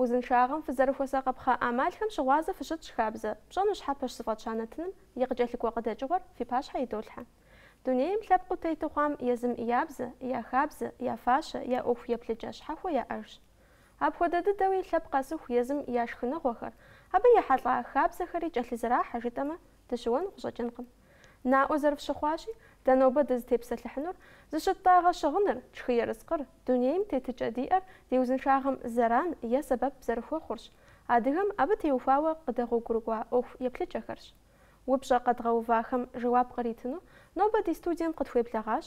Узыншагъэм фызэрыхуэсакъыпхъэ ӏэмалхэм щыгъуазэ фыщытщӏ хабзэ, пщӏэну щхьэпэщ зыфӏэтща нэтыным и къыкӏэлъыкӏуэ къыдэкӏыгъуэр фи пащхьэ идолъхьэ. Дунейм лъэпкъыу тету хъуам езым я бзэ, я хабзэ, я фащэ, я ӏуэху еплъыкӏэ щхьэхуэ яӏэжщ. Апхуэдэ дыдэуи лъэпкъ къэсыху езым я шхыныгъуэхэр, абы ехьэлӏа хабзэхэри кӏэлъызэрахьэ жытӏэмэ, Дыщыуэну къыщӏэкӏынкъым. Наӏуэ зэрыфщыхъуащи, дэ нобэ дызытепсэлъыхьынур, зыщыттӏагъэ щыгъыныр, тшхы ерыскъыр, дунейм тетыкӏэ диӏэр ди узыншагъэм зэран е сэбэп зэрыхуэхъурщ, адыгэм абы теухуауэ къыдэгъуэгурыкӏуа ӏуэху еплъыкӏэхэрщ. Упщӏэ къэдгъэувахэм жэуап къритыну нобэ ди студием къытхуеблэгъащ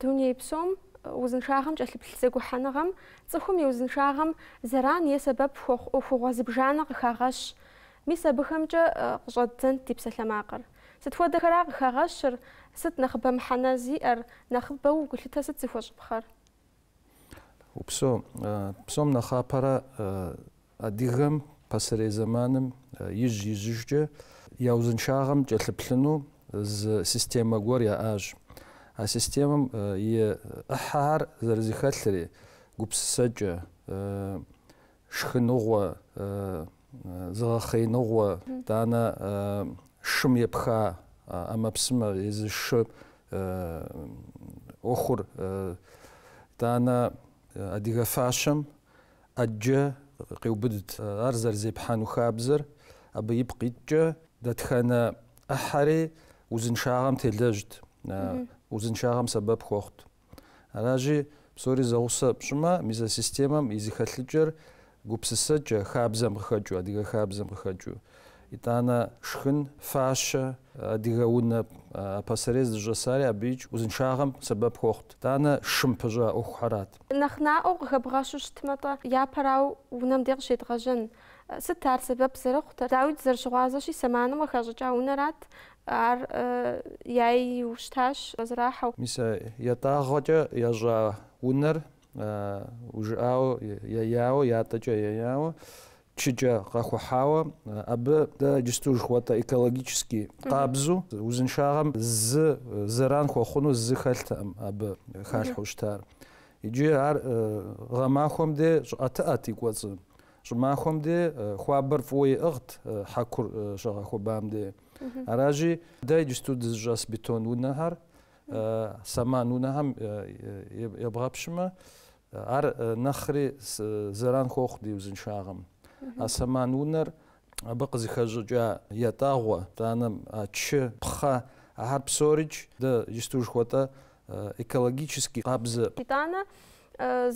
Дуней псом узыншагъэм кӏэлъыплъ зэгухьэныгъэм, цӏыхум и узыншагъэм зэран е сэбэп хуэхъу ӏуэхугъуэ зыбжанэ къыхагъэщ. Мис абыхэмкӏэ къыщӏэддзэнт ди псалъэмакъыр. Сыт хуэдэхэра къыхагъэщыр, сыт нэхъыбэ мыхьэнэ зиӏэр, нэхъыбэу гулъытэ сыт зыхуэщӏыпхъэр? Упсэу, псом нэхъапэрэ Адыгэм пасэрей зэманым ижь-ижьыжкӏэ я узыншагъэм кӏэлъыплъыну зы системэ гуэр яӏащ. А системэм и ӏыхьэхэр зэрызыхэлъри, гупсысэкӏэ, шхыныгъуэ, зыгъэхъеиныгъуэ, итӏанэ шым епха ӏэмэпсымэ езы шы ӏуэхур, итӏанэ адыгэ фащэм ӏэджэ къеубыдт. Ар зэрызепхьэну хабзэр абы ипкъ иткӏэ, дэтхэнэ ӏыхьэри узыншагъэм телэжьт, узыншагъэм сэбэп хуэхъут. Аращи, псори зэгъусэ пщӏымэ, мис а системэм и зыхэлъыкӏэр гупсысэкӏэ, хабзэм къыхэкӏыу, адыгэ хабзэм къыхэкӏыу, Итӏанэ шхын, фащэ, адыгэ унэ пасэрей зыщӏэсари абыикӏ узыншагъэм сэбэп хуэхъут. Итӏанэ шым пыщӏа ӏуэхухэрат. Нэхъ наӏуэу къыхэбгъэщу щытмэ-тӏэ, япэрауэ унэм де къыщедгъэжьэн. Сыт ар сэбэп зэрыхъутэр? Дауи, дызэрыщыгъуазэщи, сэманым къыхащӏыкӏа унэрат, ар яйу щытащ къызэрыхьэу. Мис а ятӏагъуэкӏэ ящӏа унэр, ужыӏауэ яяуэ, ятӏэкӏэ яяуэ, Чыкӏэ къэхухьауэ абы дэ иджысту жыхуэтӏэ экологически къабзу, узыншагъэм зы зэран хуэхъуну зы хэлътэӏым абы халъхьэу щытар. Иджы ар гъэмахуэм де щӏыӏэтыӏэт и кӏуэцӏым. Щӏымахуэм де хуабэр фӏыуэ иӏыгът хьэкур щагъэхуэбам де. Аращи, дэ иджысту дызыщӏэс бетон унэхэр, сэман унэхэм ебгъэпщымэ, Ар нэхъри зэран хуохъу ди узыншагъэм. А сэман унэр абы къызыхэщӏыкӏа ятӏагъуэ, итӏанэ, а чы, пхъэ, ахэр псорикӏ дэ иджысту жыхуэтӏэ экологически къабзэ. Итӏанэ,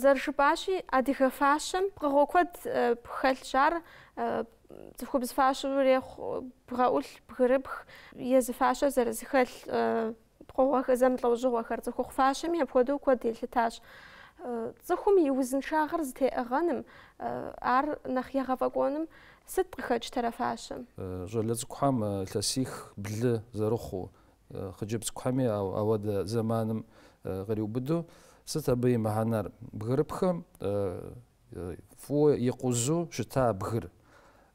зэрыжыпӏащи, адыгэ фащэм пкъыгъуэ куэд хэлъщ, ар цӏыхубз фащэу ирехъу бгъэӏулъ, бгырыпх, езы фащэ зэрызыхэлъ. Пкъыгъуэ зэмылӏэужьыгъуэхэр цӏыхухъу фащэми апхуэдэу куэд елъытащ. Цӏыхум и узыншагъэр зытеӏыгъэным, ар нэхъ егъэфӏэкӏуэным сыт къыхэкӏ тӏэ а фащэм? Щӏалэ цӏыкӏухэм илъэсих блы зэрыхъуу, хъыджэбз цӏыкӏухэми ауэдэ зэманым къриубыду, сыт абы и мыхьэнэр? Бгырыпхым фӏыуэ икъузу щыта бгыр.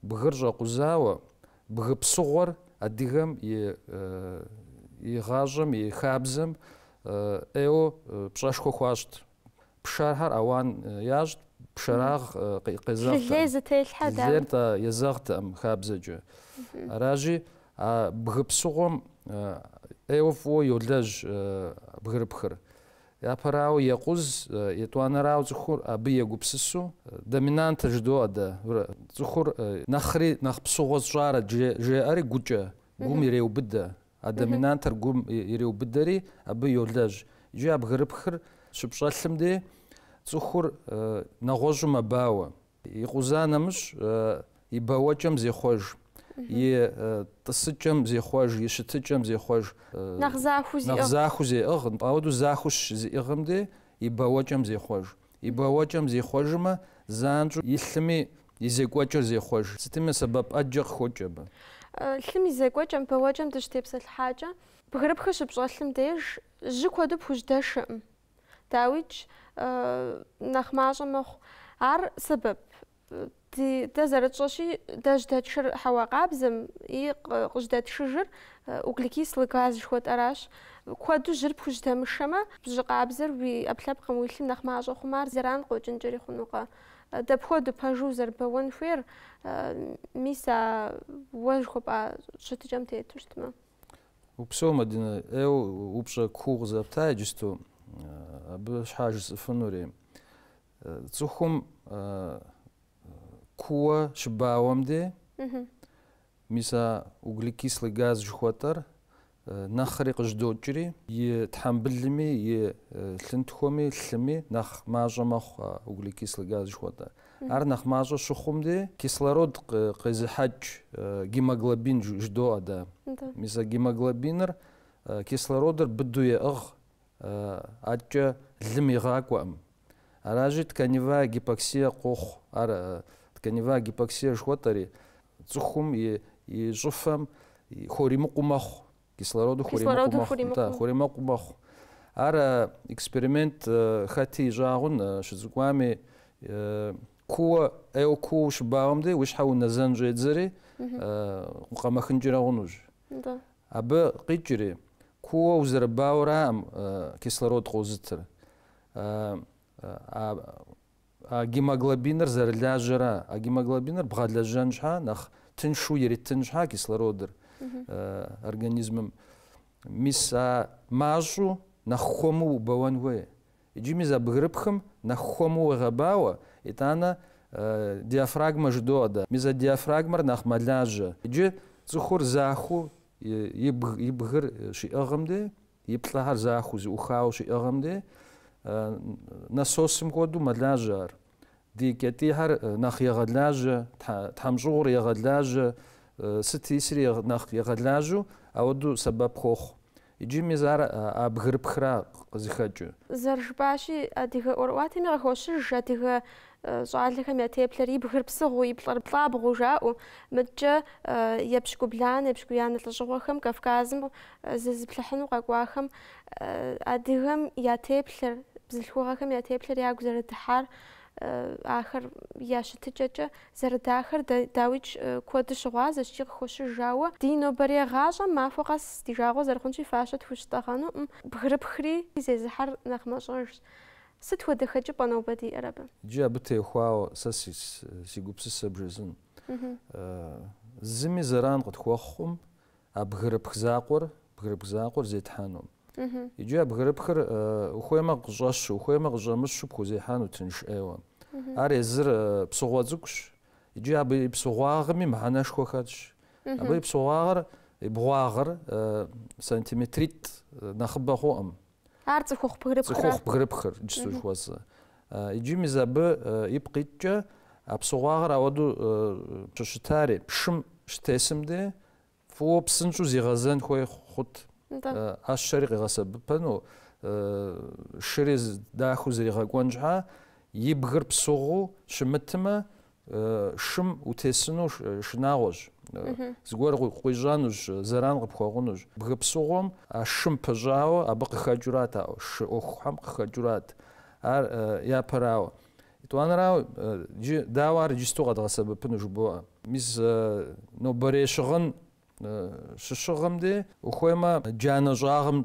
Бгыр щӏэкъузауэ, бгы псыгъуэр адыгэм и, и гъащӏэм, и хабзэм ӏейуэ пщӏэшхуэ хуащӏт. Пшэрхэр ауан ящӏт, пшэрагъ къезэгът. Лей зытелъхьэ, да. Лейр тӏэ езэгътэкъым хабзэкӏэ. Аращи, а бгы псыгъуэм ӏейуэ фӏыуэ йолэжь бгырыпхыр. Япэрауэ, екъуз, етӏуанэрауэ цӏыхур абы егупсысу, доминантыр жыдоӏэ дэ, врэ, цӏыхур нэхъри нэхъ псыгъуэ сщӏарэт, жеӏэри гукӏэ, гум иреубыдэ, а доминантыр гум иреубыдэри абы йолэжь. Иджы а бгырыпхыр щыпщӏэлъым де, цӏыхур нэгъуэщӏу мэбауэ. И къуза нэмыщӏ и бэуэкӏэм зехъуэж, и тӏысыкӏэм зехъуэж, и щытыкӏэм зехъуэж. Нэхъ захуу зиӏыгъ. Нэхъ захуу зеӏыгъ, нтӏэ, ауэдэу захуу щызиӏыгъым де и бэуэкӏэм зехъуэж. И бэуэкӏэм зихъуэжмэ, занщӏэу и лъыми и зекӏуэкӏэр зехъуэж. Сытми сэбэп ӏэджэ къыхокӏ абы. Лъым и зекӏуэкӏэм, бэуэкӏэм дыщытепсэлъыхьакӏэ, бгырыпхыр щыпщӏэлъым деж жьы куэду пхужьдэшэкъым. Дауикӏ, нэхъ мащӏэ мэхъу. Ар сэбэп? Дэ зэрытщӏэщи, дэ жьдэтшыр хьэуа къабзэм и къыжьдэтшыжыр углекислый газ жыхуэтӏэращ. Куэду жьыр пхужьдэмышэмэ, жьы къабзэр уи ӏэпкълъэпкъым, уи лъым нэхъ мащӏэ хъумэ, ар зэран къыхэкӏынкӏэри хъунукъэ? Дапхуэду пэжу узэрыбэуэн хуейр, мис а уэ жыхуэпӏа щытыкӏэм тету щытмэ? Упсэу, Мадинэ, ӏейуэ упщӏэ куу къызэпта иджысту, абы щхьа жысӏэфынури. Цӏыхум кууэ щыбауэм де, мис а углекислый газ жыхуэтӏэр нэхъри къыжьдокӏри, и тхьэмбылми, и лъынтхуэми, лъыми нэхъ мащӏэ мэхъу а углекислый газ жыхуэтӏэр. Ар нэхъ мащӏэ щыхъум де, кислород къезыхьэкӏ гемоглобин жыдоӏэ дэ. Мис а гемоглобиныр кислородыр быду еӏыгъ, аткӏэ лым игъакӏуэкъым. Аращи, тканевая гипоксия къохъу. Ар тканевая гипоксия жыхуэтӏэри, цӏыхум и щӏыфэм хуримыкъуу мэхъу. Кислородыр хуримыкъуу мэхъу. Ар эксперимент хэти ищӏагъун, щыцӏыкӏуами, кууэ, ӏейуэ кууэ ущыбауэм дей уи щхьэ унэзэн щӏедзэри, укъэмэхынкӏэрэ хъунущ. Абы къикӏри, кууэ узэрыбауэраӏым кислород къозытыр. А гемоглобиныр зэрылажьэра, а гемоглобиныр бгъэлэжьэн щхьа, нэхъ тыншу иритын щхьа кислородыр организмым. Мис а мащӏу нэхъ хуэму убэуэн хуей. Иджы мис а бгырыпхым нэхъ хуэму уегъэбауэ, итӏанэ диафрагмэ жыдоӏэ дэ. Мис а диафрагмэр нэхъ мэлажьэ. Иджы цӏыхур захуу и бгыр щиӏыгъым де, И плӏэхэр захуу зыӏухауэ щиӏыгъым де, насосым хуэдэу мэлажьэ ар. Ди кӏэтӏийхэр нэхъ егъэлажьэ, тхьэмщӏыгъур егъэлажьэ, сыт исри нэхъ егъэлажьэу ауэдэу сэбэп хуохъу. Иджы мис ар а бгырыпхра къызыхэкӏы. Зэрыжыпӏащи, адыгэ ӏуэрыӏуатэми къыхощыж адыгэ Щӏалэхэм я теплъэр и бгыр псыгъуу, и плӏэр плӏабгъуу жаӏэу, мыдкӏэ епщыкӏубланэ, епщыкӏуянэ лӏыщӏыгъуэхэм Кавказым зызыплъыхьыну къэкӏуахэм адыгэм я теплъэр, бзылъхугъэхэм я теплъэр ягу зэрыдыхьар, ахэр я щытыкӏэкӏэ зэрыдахэр дауикӏ куэд щыгъуазэщ икӏи къыхощыж. Ауэ ди нобэрей гъащӏэм махуэ къэс ди жагъуэ зэрыхъунщи фащэ тхущытӏэгъэнукъым. Бгырыпхри зезыхьэр нэхъ мащӏэжщ. Сыт хуэдэ хэкӏыпӏэ нобэ диӏэр абы? Иджы абы теухуауэ сэ си гупсысэ бжесӏэн. Зыми зэран къытхуэхъуӏым а бгырыпх закъуэр, бгырыпх закъуэр зетхьэну. Иджы а бгырыпхыр ухуеймэ къыщӏэщу, ухуеймэ къыщӏэмыщу пхузехьэну тынш ӏейуэ. Ар езыр псыгъуэ цӏыкӏущ. Иджы абы и псыгъуагъми мыхьэнэшхуэ хэтщ. Абы и псыгъуагъыр, и бгъуагъыр сантиметритӏ нэхъыбэ хъуӏым. Ар цӏыхухъу бгырыпхыр, иджыпсту жыхуэсӏэр. Иджы мис абы ипкъ иткӏэ а псыгъуагъыр ауэду щӏыщытари, шым щытесым де фӏыуэ псынщӏу зигъэзэн хуей хъут. ӏэщэри къигъэсэбыпэну, шыри дахэу зригъэкӏуэн щхьа, и бгыр псыгъуу щымытмэ, Шым утесыну шынагъуэщ. Зыгуэр къуищӏэнущ, зэран къыпхуэгъунущ. Бгы псыгъуэм а шым пыщӏауэ абы къыхэкӏыурат а шы ӏуэхухэм къыхэкӏыурат. Ар япэрауэ. Етӏуанэрауэ, иджы дауэ ар иджысту къэдгъэсэбэпыну жыбоӏэ. Мис нобэрей щыгъын щыщыгъым де ухуеймэ джанэ щӏагъым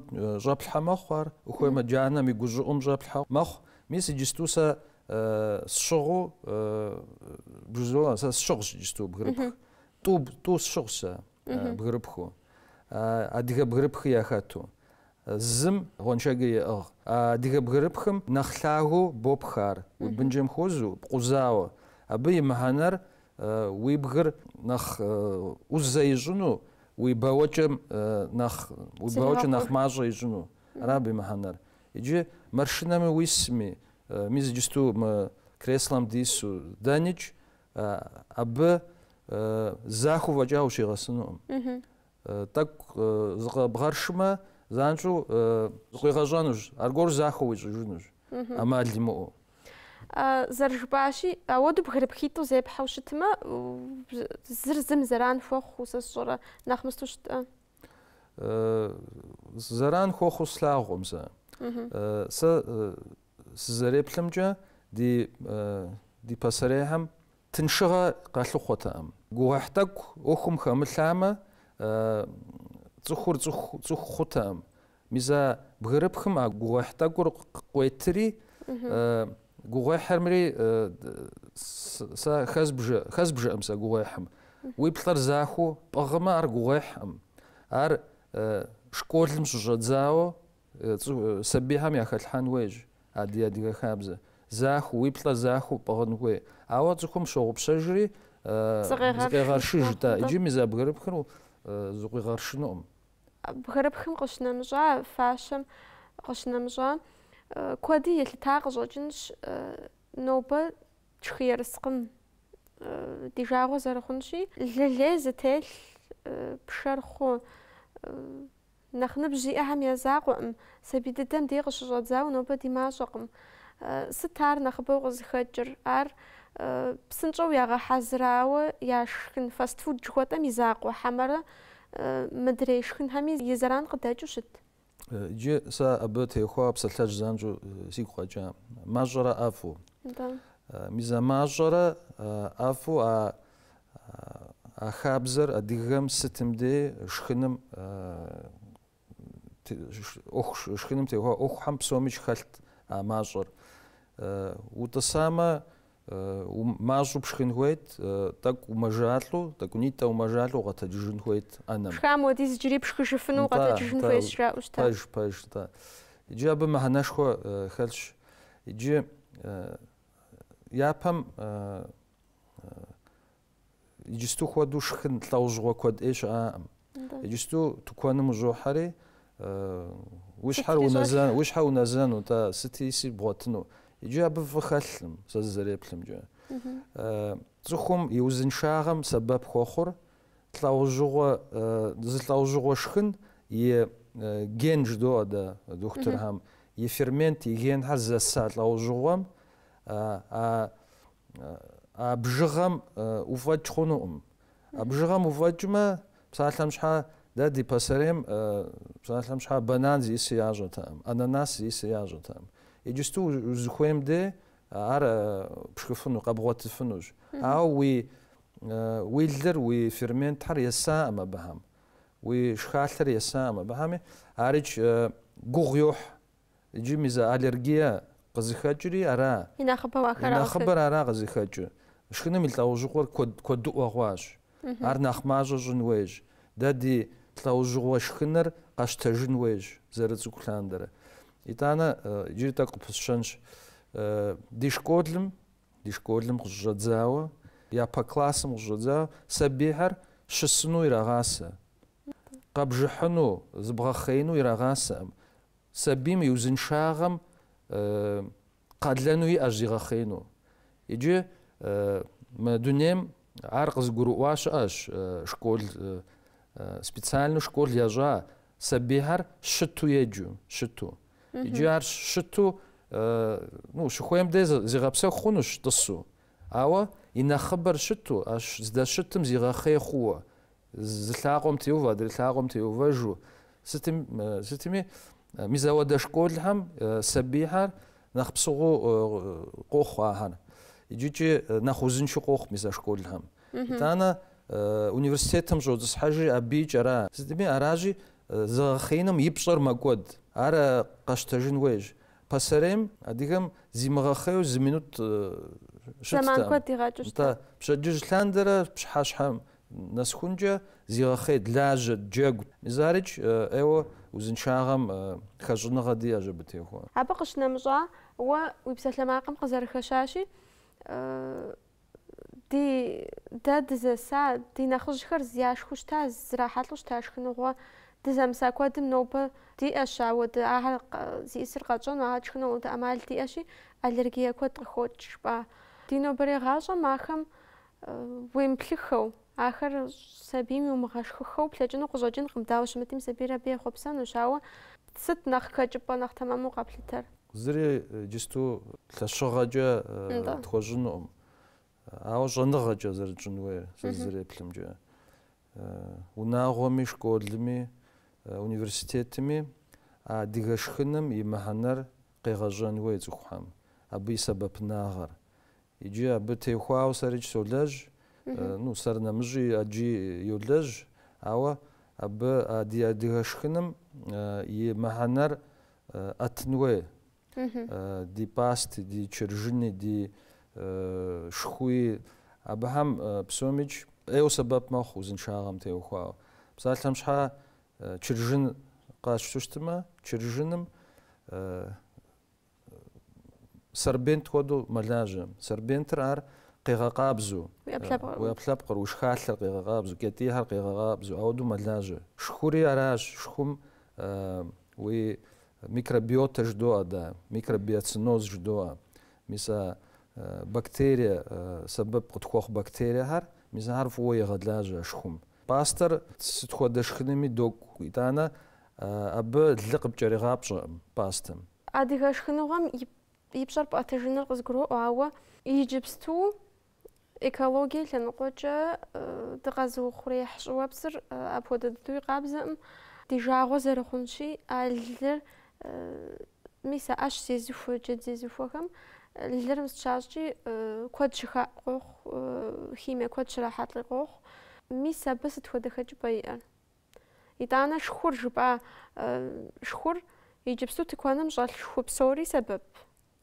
щӏэплъхьэ мэхъу ар, ухуеймэ джанэм и гущӏыӏум щӏэплъхьэ мэхъу. Мис иджысту сэ сщыгъу бжызо сэ сщыгъщ иджысту бгырыпх. Тӏу тӏу сщыгъщ сэ бгырыпху. Адыгэ бгырыпхи яхэту. Зым гъуэншэдж еӏыгъ. А адыгэ бгырыпхым нэхъ лъагэу бопх ар. Уи бынджэм хуэзэу, пкъузауэ. Абы и мыхьэнэр уи бгыр нэхъ ӏузэ ищӏыну, уи бауэкӏэ нэхъ уи бауэкӏэ нэхъ мащӏэ ищӏыну. Ара абы и мыхьэнэр. Иджы маршынэми уисми, мис иджысту мы креслэм дису дэникӏ, абы захуэу фӏэкӏа ущигъэсынукъым. Тӏэкӏу зыкъэбгъэршмэ, занщӏэу зыкъуигъэщӏэнущ, аргуэру захуэу уищӏыжынущ, ӏэмал имыӏэу. Зэрыжыпӏащи, апхуэдэу бгырыпхитӏу зепхьэу щытмэ, зыр зым зэран хуэхъуу сэ сщӏэрэ, нэхъ мысту щытӏэ? Зэран хуэхъуу слъагъукъым сэ. Сэ сызэреплъымкӏэ, ди пасэрейхэм Тыншыгъэ къалъыхъуэтэкъым. Гугъуехь тӏэкӏу ӏуэхум хэмылъамэ, цӏыхур цӏыху цӏыху хъутэкъым. Мис а бгырыпхым а гугъуехь тӏэкӏур къуетри, гугъуехькъым ари сэ хэзбжэкъым сэ гугъуехьым. Уи плӏэр захуэу пӏыгъмэ, ар гугъуехькъым. Ар школым щыщӏэдзауэ Сабийхэм яхэлъхьэн хуейщ адыгэ-адыгэ хабзэ. Захуэу, уи плӏэ захуэу пӏыгъын хуей. Ауэ цӏыхум щогъупщэжри, зыкъегъэршыж, тӏэ, иджы мис а бгырыпхыр зыкъуигъэршынукъым. Бгырыпхым къыщынэмыщӏа, фащэм къыщынэмыщӏа, куэди елъыта къыщӏэкӏынщ, нобэ тшхы ерыскъым ди жагъуэ зэрыхъунщи, лы лей зытелъ пшэр хъу, Нэхъ ныбжь зиӏэхэм я закъуэкъым, сабий дыдэм дей къыщыщӏэдзауэ нобэ ди мащӏэкъым. Сыт ар нэхъыбэу къызыхэкӏыр? Ар псынщӏэу ягъэхьэзырауэ яшхын фастфуд жыхуэтӏэм и закъуэ хьэмэрэ мыдрей шхынхэми и зэран къыдэкӏыу щыт? Иджы сэ абы теухуа псалъэжь занщӏэу сигу къэкӏа. Мащӏэрэ ӏэфӏу? Мис а мащӏэрэ ӏэфӏу а А хабзэр адыгэм сытым дей шхыным шхыным теухуа ӏуэхухьэм псомикӏ хэлът а мащӏэр. Утӏысамэ, мащӏу пшхын хуейт, тӏэкӏу умэжалӏэу, тӏэкӏунитӏэ умэжалӏэу укъэтэджыжын хуейт ӏэнэм. Пшхам хуэдиз иджыри пшхыжыфыну укъэтэджыжын хуейщ жаӏэу щытащ. Пэж, пэж, тӏэ. Иджы абы мыхьэнэшхуэ хэлъщ. Иджы япэм Иджысту хуэдэу шхын лӏэужьыгъуэ куэд ӏей щыӏакъым. Иджысту тыкуэным ущӏохьэри, уи щхьэр унэзэну, сыт иси бгъуэтыну. Иджы абы фӏы хэлъым, сэ зызэреплъымкӏэ. Цӏыхум и узыншагъэм сэбэп хуэхъур лӏэужьыгъуэ, зы лӏэужьыгъуэ шхын и ген жыдоӏэ дэ дохутырхэм, и фермент, и генхэр зэса лӏэужьыгъуэм, а А бжыгъэм уфӏэкӏ хъунукъым. А бжыгъэм уфӏэкӏмэ, псалъэм щхьэ дэ ди пасэрейм псалъэм щхьэ банан зиӏыс ящӏэтэкъым, ананас зиӏыс ящӏэтэкъым. Иджысту узыхуейм де ар пшхыфыну, къэбгъуэтыфынущ. Ауэ уи уи лыр, уи ферментхэр есакъым абыхэм, уи шхалъэр есакъым абыхэми, арикӏ гугъу йохь. Иджы мис а аллергие къызыхэкӏри ара. И нэхъыбэр ара къызыхэкӏыр. Шхыным и лӏэужьыгъуэр куэдыӏуэ хъуащ. Ар нэхъ мащӏэ щӏын хуейщ. Дэ ди лӏэужьыгъуэ шхыныр къэщтэжын хуейщ, зэрыцӏыкӏу лъандэрэ. Итӏанэ иджыри тӏэкӏу къыпысщэнщ. Ди школым, ди школым къыщыщӏэдзауэ, япэ классым къыщыщӏэдзауэ сабийхэр щысыну ирагъасэ. къэбжыхьыну, зыбгъэхъеину ирагъасэкъым. Сабийм и узыншагъэм къалэну иӏэщ зигъэхъеину. Иджы мы дунейм ар къызыгурыӏуа щыӏэщ школ, специальнэу школ ящӏа сабийхэр щыту еджу, щыту. Иджы ар щыту, ну, щыхуейм де зигъэпсэху хъунущ тӏысу. Ауэ и нэхъыбэр щыту, ащ здэщытым зигъэхъей хъууэ, Зы лъакъуэм теувэ, адрей лъакъуэм теувэжу. Сытми, мис апхуэдэ школхэм сабийхэр нэхъ псыгъуэу къохъу ахэр. Иджыкӏи нэхъ узыншэу къохъу мис а школхэм. Итӏанэ университетым щӏотӏысхьэжри абыикӏ ара. Сытми, аращи, зыгъэхъеиным и пщӏэр мэкӏуэд. Ар къэщтэжын хуейщ. Пасэрейм адыгэм зимыгъэхъейуэ зы минут щыттэкъым. Зэман куэд игъэкӏыщтэкъым. Пщэдджыжь лъандэрэ пщыхьэщхьэм Нэсхункӏэ зигъэхъейт, лажьэт, джэгу. Мис арикӏ ӏейуэ узыншагъэм хэщӏыныгъэ диӏэщ абы теухуауэ. Абы къыщынэмыщӏа, уэ уи псалъэмакъым къызэрыхэщащи, ди, дэ дызэса, ди нэхъыжьхэр яшхыу щыта, зрахьэлӏэу щыта шхыныгъуэ, дызэмыса куэдым нобэ диӏэщ ауэ, ды, ахэр зиӏысыр къэтщӏэну, ахэр тшхыну ауэдэ ӏэмал диӏэщи, аллергие куэд къыхокӏ, жыпӏа. Ди нобэрей гъащӏэм ахэм уемыплъыххэу, ахэр сабийм иумыгъэшхыххэу плъэкӏыну къыщӏэкӏынкъым, дауэ щымытми сабийр абы ехъуэпсэнущ, ауэ сыт нэхъ хэкӏыпӏэ нэхъ тэмэму къэплъытэр? Зыри иджысту лъэщыгъэкӏэ тхуэщӏынукъым, ауэ щӏэныгъэкӏэ зэрытщӏын хуейр сэ зызэреплъымкӏэ, унагъуэми, школми, университетми а адыгэ шхыным и мыхьэнэр къегъэщӏэн хуей цӏыхухэм, абы и сэбэпынагъэр, Иджы абы теухуауэ сэрикӏ солэжь, ну, сэр нэмыщӏи ӏэджи йолэжь, ауэ абы а ди адыгэ шхыным и мыхьэнэр ӏэтын хуей. Ди пасти, ди чыржыни, ди шхуи, абыхэм псомикӏ ӏейуэ сэбэп мэхъу узыншагъэм теухуауэ. Псалъэм щхьэ чыржын къащту щытмэ, чыржыным Сорбент хуэдэу мэлажьэ. Сорбентыр ар къегъэкъабзэ уи ӏэпкълъэпкъыр, уи шхалъэр къегъэкъабзэ, уи кӏэтӏийхэр къегъэкъабзэ, ауэдэу мэлажьэ. Шхури аращ, шхум уи микробиотэ жыдоӏэ, да, микробиоценоз жыдоӏэ. Мис а бактерие сэбэп къытхуэхъу бактериехэр, мис ахэр фӏыуэ егъэлажьэ шхум. Пӏастэр сыт хуэдэ шхыными докӏу, итӏанэ Абы лы къыпкӏэригъапщӏэкъым пӏастэм. Адыгэ шхыныгъуэм и пщӏэр пӏэтэжыныр къызгуроӏуэ, ауэ иджыпсту экологие лъэныкъуэкӏэ дыкъэзыухъуреихь щӏыуэпсыр апхуэдэ дыдэуи къабзэкъым. Ди жагъуэ зэрыхъунщи, а лыр, мис а ӏэщ зезыхуэ джэд зезыхуэхэм, лыр мис щащӏкӏи куэд щыхаӏу къохъу, химие куэд щрахьэлӏи къохъу. Мис абы сыт хуэдэ хэкӏыпӏэ иӏэр? Итӏанэ шхур жыпӏа шхур иджыпсту тыкуэным щӏэлъ шху псори сэбэп,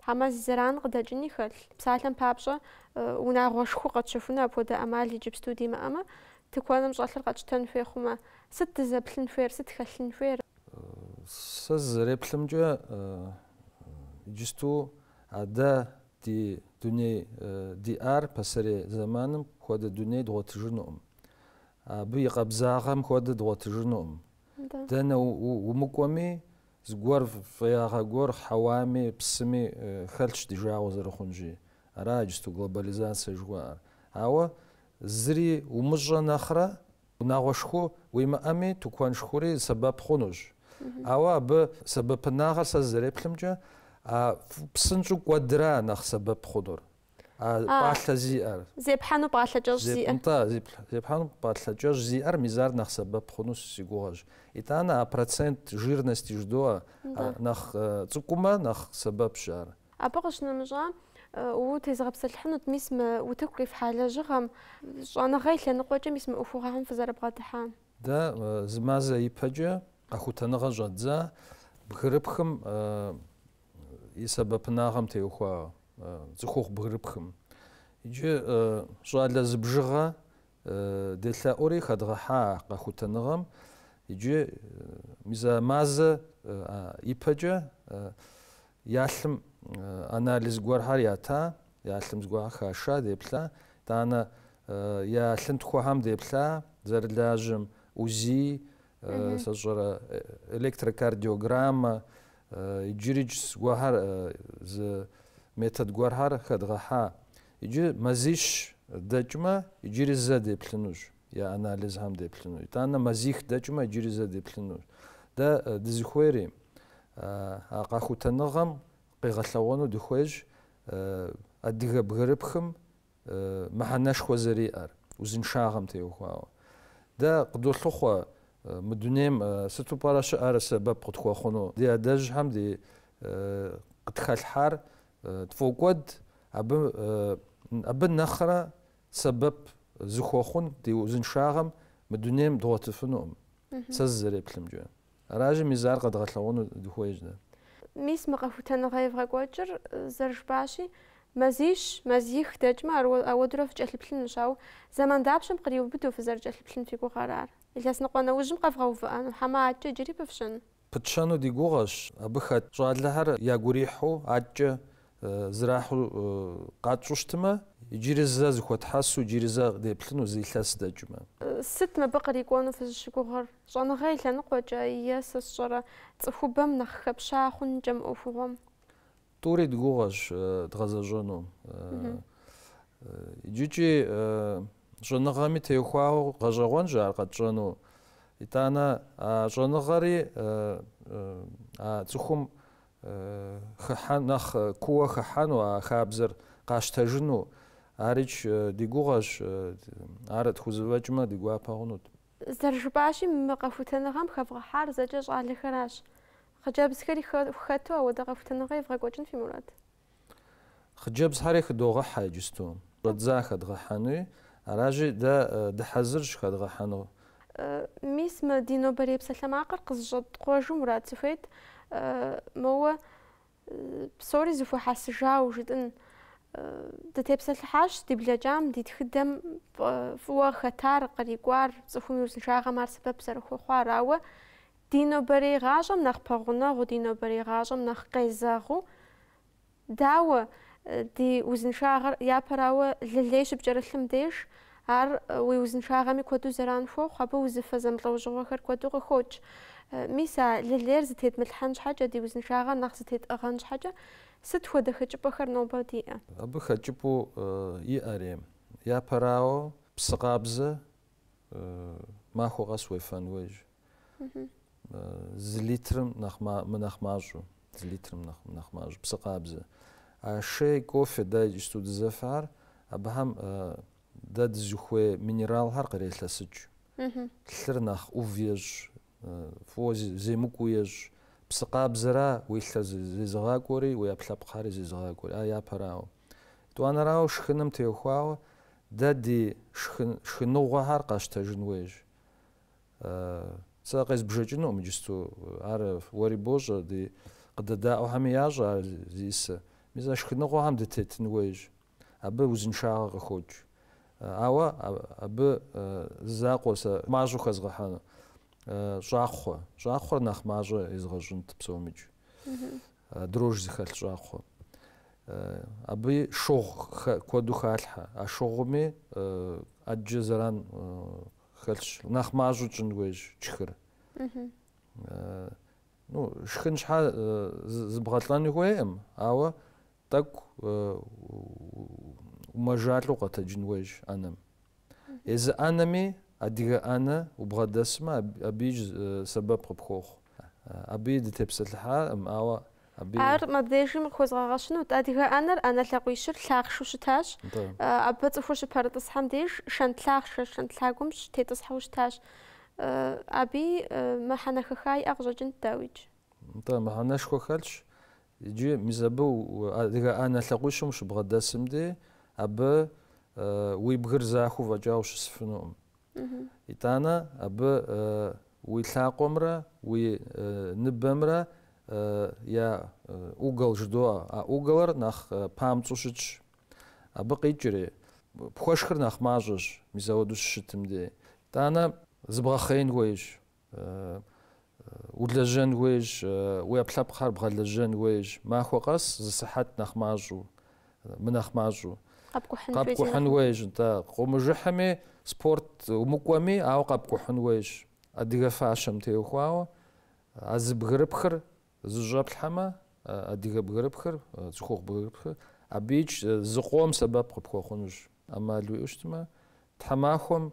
хьэмэ зи зэран къыдэкӏыни хэлъ. Псалъэм папщӏэ, унагъуэ шху къэтщэхуну апхуэдэ ӏэмал иджыпсту димыӏэмэ, тыкуэным щӏэлъыр къэтщтэн хуей хъумэ, сыт дызэплъын хуейр, сыт хэлъын хуейр? Сэ зызэреплъымкӏэ, иджысту а дэ ди дуней диӏар пасэрей зэманым хуэдэ дуней дгъуэтыжынукъым. Абы и къабзагъэм хуэдэ дгъуэтыжынукъым. Дэнэ умыкӏуэми, зыгуэр фӏеягъэ гуэр хьэуами, псыми хэлъщ ди жагъуэ зэрыхъунщи. Ара иджысту глобализацэ жыхуаӏэр. Ауэ зыри умыщӏэ нэхърэ, унагъуэ шху уимыӏэми, тыкуэн шхури сэбэп хъунущ. Ауэ абы сэбэпынагъэр сэ сызэреплъымкӏэ, а псынщӏэу кӏуэдра нэхъ сэбэп хъунур. А, А, пӏалъэ зиӏэр. Зепхьэну пӏалъэ кӏэщӏ Зеп... зиӏэ. Нтӏэ, зеп- зепхьэну пӏалъэ кӏэщӏ зиӏэр мис ар нэхъ сэбэп хъуну си гугъэщ. Итӏанэ а процент жирности жыдоӏэ, Да. а, нэхъ э, цӏыкӏумэ нэхъ сэбэпщ ар. Абы къыщынэмыщӏа, э, утезыгъэпсэлъыхьынут мис мы утыку къифхьа лэжьыгъэм, щӏэныгъэ и лъэныкъуэкӏэ мис мы ӏуэхугъуэхэм фызэрыбгъэдыхьам. Дэ э, зы мазэ ипэкӏэ къэхутэныгъэ щӏэддза бгырыпхым э, и сэбэпынагъэм теухуауэ. цӏыхухъу бгырыпхым. Иджы щӏалэ зы бжыгъэ делъэӏури хэдгъэхьа а къэхутэныгъэм. Иджы мис а мазэ ипэкӏэ я лъым анализ гуэрхэр ята, я лъым зыгуэрхэр хаша, деплъа. Итӏанэ я лъынтхуэхэм деплъа, зэрылажьэм УЗИ, сэ сщӏэрэ электрокардиограммэ иджыри зыгуэрхэр зы метод гуэрхэр хэдгъэхьа иджы мазищ дэкӏмэ иджыри зэ деплъынущ я анализхэм деплъыну итӏанэ мазих дэкӏмэ иджыри зэ деплъынущ дэ дызыхуейри а къэхутэныгъэм къигъэлъэгъуэну дыхуейщ адыгэ бгырыпхым мыхьэнэшхуэ зэриӏэр, узыншагъэм теухуауэ. Дэ къыдолъыхъуэ мы дунейм сыту пӏэрэ щыӏэр сэбэп къытхуэхъуну. Ди адэжьхэм ди къытхэлъхьар тфӏокӏуэд, абы абы нэхърэ сэбэп зыхуэхъун ди узыншагъэм мы дунейм дгъуэтыфынукъым, сэ зызэреплъымкӏэ. Аращи, мис ар къэдгъэлъэгъуэну дыхуейщ дэ. Мис мы къэхутэныгъэ евгъэкӏуэкӏыр зэрыжыпӏащи, мазищ, мазих дэкӏмэ, ауэдурэ фыкӏэлъыплъынущ, ауэ зэман дапщэм къриубыдэу фызэрыкӏэлъыплъын фи гугъэр ар? Илъэс ныкъуэ нэужьым къэвгъэувыӏэну хьэмэ адэкӏэ иджыри пыфщэну? Пытщэну ди гугъэщ, абы хэт щӏалэхэр ягу ирихьу адэкӏэ Зэрахьу къэтщӏу щытмэ, иджыри зэ зыхуэтхьэсу, иджыри зэ деплъыну зы илъэс дэкӏмэ. Сыт мыбы кърикӏуэну фызыщыгугъыр? Щӏэныгъэ и лъэныкъуэкӏэ, е сэ сщӏэрэ, цӏыхубэм нэхъ хэпща хъункӏэ мы ӏуэхугъуэм? Тӏури ди гугъэщ дгъэзэщӏэну. Иджыкӏи щӏэныгъэми теухуауэ гъэщӏэгъуэнщ ар къэтщӏэну. Итӏанэ а щӏэныгъэри а цӏыхум хыхьэн, нэхъ кууэ хыхьэну а хабзэр къащтэжыну. Арич, ди гугъэщ, ар тхузэфӏэкӏмэ, ди гуапэ хъунут. Зэрыжыпӏащи, мы къэхутэныгъэм хэвгъэхьар зэкӏэ щӏалэхэращ. Хъыджэбзхэри хэту ауэдэ къэхутэныгъэ евгъэкӏуэкӏын фи мурад? Хъыджэбзхэри хыдогъэхьэ иджысту. Щӏэдза хэдгъэхьэнуи аращи, дэ дыхьэзырщ хэдгъэхьэну. Мис мы ди нобэрей псалъэмакъыр къызыщӏэткъуэжу мурад сыхуейт, моуэ псори зыхуэхьэсыжауэ жытӏын. Дытепсэлъыхьащ ди блэкӏам, ди тхыдэм фӏыуэ хэтар, кърикӏуар, цӏыхум и узыншагъэм ар сэбэп зэрыхуэхъуар, ауэ Ди нобэрей гъащӏэм нэхъ пэгъунэгъуу, ди нобэрей гъащӏэм нэхъ къезэгъыу, дауэ, ди узыншагъэр, япэрауэ, лылей щыпкӏэрылъым деж, ар уи узыншагъэми куэду зэран хуохъу, абы узыфэ зэмылӏэужьыгъуэхэр куэду къыхокӏ. Мис а лылейр зытедмылъхьэн щхьэкӏэ, ди узыншагъэр нэхъ зытетӏыгъэн щхьэкӏэ, сыт хуэдэ хэкӏыпӏэхэр нобэ диӏэ? Абы хэкӏыпӏэу иӏэри, япэрауэ, псы къабзэ махуэ къэс уефэн хуейщ. Зы литрым нэхъ мынэхъ мащӏэу, зы литрым мынэхъ мащӏэу псы къабзэ. А шей, кофе дэ иджысту дызэфэхэр, абыхэм дэ дызыхуей минералхэр кърелъэсыкӏ. Лъыр нэхъ ӏув ещӏ, фӏыуэ земыкӏуу ещӏ. Псы къабзэра уи лъыр зезыгъакӏуэри, уи ӏэпкълъэпкъхьэри зезыгъакӏуэри. А япэрауэ. Тӏуанэрауэ шхыным теухуауэ дэ ди шхыныгъуэхэр къащтэжын хуейщ. Сэ къезбжэкӏынукъым иджысту. Ар уэри бощӏэ, ди къыдэдаӏуэхэми ящӏэ ар зиӏысыр. Мис а шхыныгъуэхэм дытетын хуейщ. Абы узыншагъэ къыхокӏ. Ауэ абы зы закъуэ сэ мащӏэу хэзгъэхьэну. Щӏакхъуэ. Щӏакхъуэр нэхъ мащӏэ езгъэщӏынт псомикӏ. Дрож зыхэлъ щӏакхъуэ. Абы шыгъу куэду халъхьэ. А шыгъуми ӏэджэ зэран хэлъщ. Нэхъ мащӏэу тщӏын хуейщ тшхыр. Ну, шхын щхьэ зыбгъэлӏэну хуейкъым, ауэ тӏэкӏу умэжалӏэу къэтэджын хуейщ ӏэнэм. Езы ӏэнэми адыгэ ӏэнэ убгъэдэсмэ, абыикӏ сэбэп къыпхуохъу. Абыи дытепсэлъыхьакъым, ауэ Ар мыбдежым къыхуэзгъэгъэщынут. Адыгэ ӏэнэр, ӏэнэ лъакъуищыр, лъахъшэу щытащ. Абы цӏыхур щыпэрытӏысхьэм деж шэнт лъахъшэ шэнт лъагум щытетӏысхьэу щытащ. Абыи мыхьэнэ хэха иӏэ къыщӏэкӏынт, дауикӏ. Нтӏэ, мыхьэнэшхуэ хэлъщ. Иджы мис абы адыгэ ӏэнэ лъакъуищым ущыбгъэдэсым дей, абы уи бгыр захуэу фӏэкӏа ущысыфынукъым. Итӏанэ абы уи лъакъуэмрэ уи ныбэмрэ я угол жыдоӏэ. А уголыр нэхъ памцӏэу щытщ. Абы къикӏри, пхуэшхыр нэхъ мащӏэщ, мис ауэдэу щыщытым дей. Итӏанэ зыбгъэхъеин хуейщ. Улэжьэн хуейщ, уи ӏэпкълъэпкъхэр бгъэлэжьэн хуейщ. Махуэ къэс зы сыхьэт нэхъ мащӏэу, мынэхъ мащӏэу. Къэпкӏухьын хуейщ. Къыумыжыхьми, спорт умыкӏуэми, ауэ къэпкӏухьын хуейщ. Адыгэ фащэм теухуауэ а зы бгырыпхыр зыщӏэплъхьэмэ, адыгэ бгырыпхыр, цӏыхухъу бгырыпхыр, абыикӏ зыкъом сэбэп къыпхуэхъунущ. ӏэмал уиӏэу щытмэ, тхьэмахуэм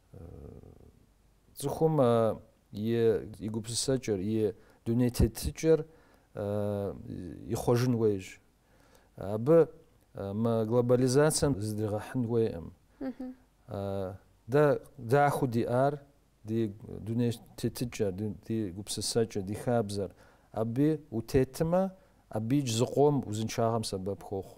Цӏыхум и гупсысэкӏэр, и дуней тетыкӏэр ихъуэжын хуейщ. Абы мы глобализацием зыдригъэхьын хуейкъым. Дэ дахэу диӏар ди дуней тетыкӏэр, ди гупсысэкӏэр, ди хабзэр. Абы утетмэ, абыикӏ зыкъом узыншагъэм сэбэп хуохъу.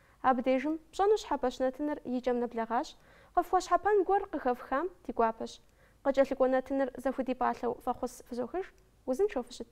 Абы дежым пщӏэну щхьэпэщ нэтыныр и кӏэм нэблэгъащ, къыфхуэщхьэпэн гуэр къыхэфхам ди гуапэщ. Къыкӏэлъыкӏуэ нэтыныр зэхудипӏалъэу фӏэхъус фызохыж, узыншэу фыщыт.